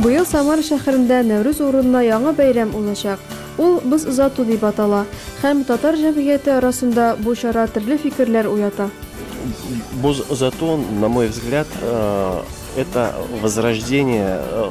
Быел Самара шәһәрендә Нәүрүз урынына яңа бәйрәм узачак. Ул Боз озату дип атала һәм татар җәмгыяте арасында бу чара төрле фикерләр уята. Боз озату, на мой взгляд, э, это возрождение э,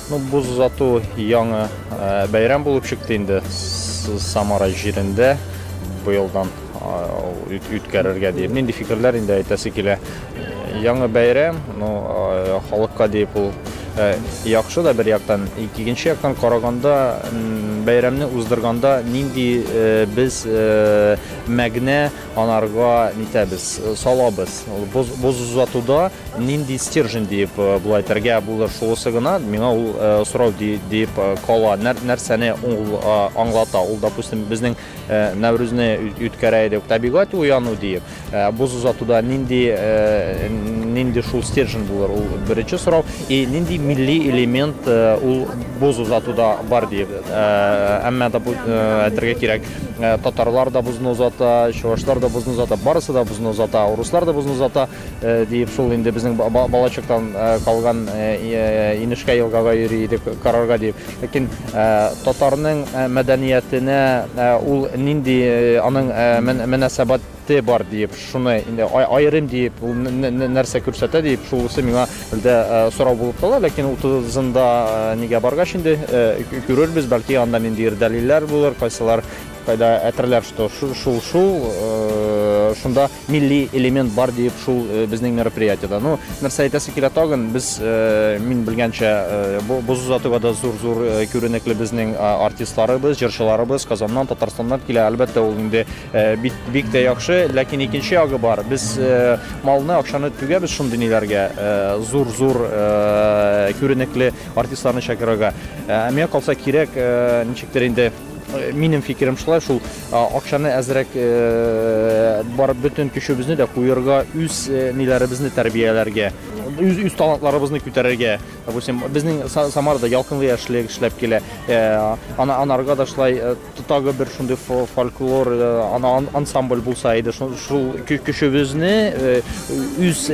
Ну, боз озату яңы бәйрәм булып чыкты инде Самара җирендә быелдан үткәрергә диеп. Нинди фикерләр инде әйтәсе килә. Яңы бәйрәм, ну, халыкка диеп ул Э, яхшы да бер яктан икенче яктан караганда бәйрәмне уздырганда нинди э, без э, мәгънә Анарга нитәбез, салабыз. Ул боз, боз озатуда нинди стержень диеп була әйтергә булыр шуысы гына, миңа ул сорау диеп кала. Нәр, нәрсәне ул аңлата? Ул, допустим, безнең Нәүрүзне үткәрә идек, табигать уяну диеп. Боз озатуда нинди нинди шул стержень булыр? Ул беренче сорау. И нинди милли элемент ул боз озатуда бар диеп. Әмма да әйтергә кирәк, Э, татарлар да бозны озата чувашлар да бозны озата барысы да бозны озата урыслар да бозны озата э, диеп шул инде безнең балачактан э, калган инешкә елгага йөри идек карарга дип ләкин татарның мәдәниятенә ул нинди аның мөнәсәбәт Те бар диеп, шуны инде аерым диеп, ул нәрсә күрсәтә диеп, шулысы миңа әлдә сорау булып кала, ләкин утызында нигә баргач инде күрербез, бәлки анда ниндидер дәлилләр булыр, кайсылар кайда әтерләр, что шул шул шунда милли элемент бар диеп, шул безнең мероприятиедә. Ну, нәрсә әйтәсе килә тагын, без мин белгәнчә боз озатуга да зур-зур күренекле безнең артистларыбыз, җырчыларыбыз Казаннан, Татарстаннан килә. Әлбәттә, ул инде Бик, бик тә яхшы, ләкин икенче ягы бар. Без малны, акчаны түгәбез шундый ниләргә, зур-зур күренекле артистларны чакырырга. Миңа калса кирәк, ничектер инде минем фикерем шулай, шул акчаны әзрәк бар бөтен көчебезне дә куерга, үз ниләребезне тәрбияләргә, үз үз талантларыбызны күтәрергә. Допустим, безнең Самарда ялкынлы яшьлек эшләп килә. Ана анарга да шулай Тагы бер шундый фольклор ансамбль булса иде, шул көчебезне үз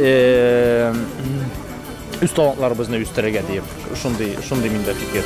үз талантларыбызны үстерергә диеп, шундый шундый миндә фикер.